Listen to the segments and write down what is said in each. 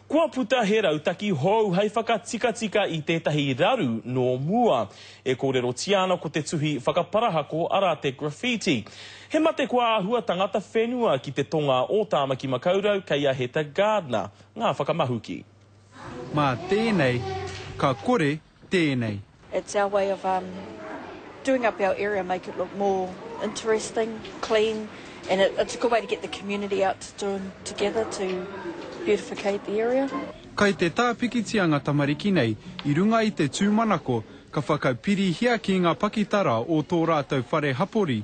Kua puta he rautaki hou hai whakatikatika i tētahi raru nō mua. E kōrerotia ana ko te tuhi whakaparahako arā te graffiti. He mate kua āhua tangata whenua ki te tonga o Tāmaki Makaurau kei a Heta Gardner ngā whakamahuki. Mā tēnei ka kore tēnei. It's our way of um doing up our area make it look more interesting, clean and it it's a good way to get the community out to join together to beautificate the area. Kai te tā pikitia nga tamariki nei i runga i te tūmanako ka whakapirihia ki nga pakitara o tō rātou whare hapori,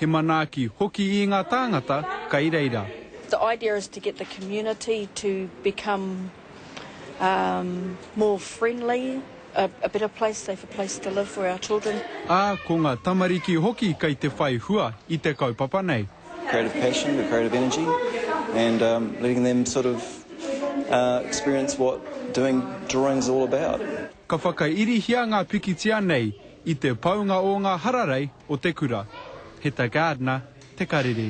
He manaaki hoki ī ngā tāngata kai reira. The idea is to get the community to become more friendly, a better place, safer place to live for our children. Ā, ko ngā tamariki hoki kai te whai hua i te kaupapa nei. Creative passion, the creative energy and letting them sort of experience what doing drawings all about. Ka whakairihia ngā pikitia nei I te paunga o ngā hararei o te kura, he ta gardener te karere.